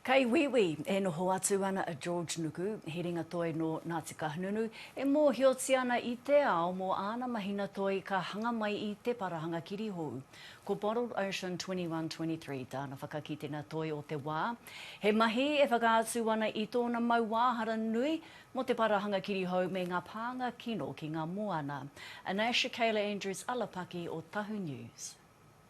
Kei Wīwī e noho atu ana a George Nuku, he ringatoi nō Ngāti Kahungunu, e mōhiotia ana i te ao mō āna mahina toi ka hanga mai i te parahanga kirihou. Ko Bottled Ocean 2123 tāna whakakitenga toi o te wā. He mahi e whakaatu ana i tōna mauāhara nui mō te parahanga kirihou me ngā pānga kino ki ngā moana. Anais Shakayla Andrews Alapaki o Tahu News.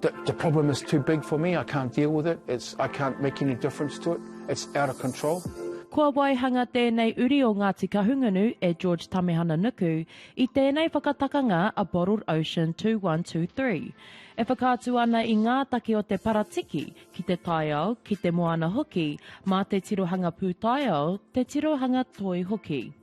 The problem is too big for me, I can't deal with it, it's, I can't make any difference to it, it's out of control. Kua waihanga tēnei uri o Ngāti Kahungunu e George Tamehana Nuku i tēnei whakatakanga a Bottled Ocean 2123. E whakaatu ana i ngā take o te paratiki ki te taiao, ki te moana hoki, mā te tirohanga pūtaiao, te tirohanga toi hoki.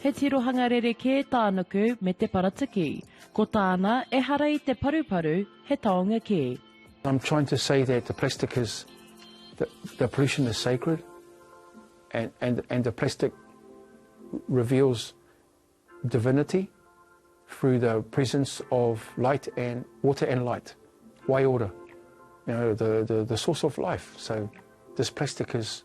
He tirohanga rerekē tānuku me te paratiki. Ko tāna, ehara i te paruparu, he taonga kē. I'm trying to say that the plastic is the the pollution is sacred and and and the plastic reveals divinity through the presence of light and water and light waiora you know the the the source of life so this plastic is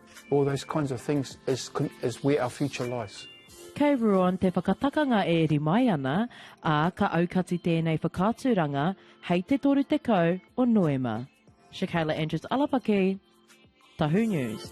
All those kinds of things is is where our future lies. Kei Ruan te whakatakanga e eri mai ana, ā, ka aukati tēnei whakaaturanga hei te 30 o Noema. Shakayla Andrews-Alapaki, Tahu News.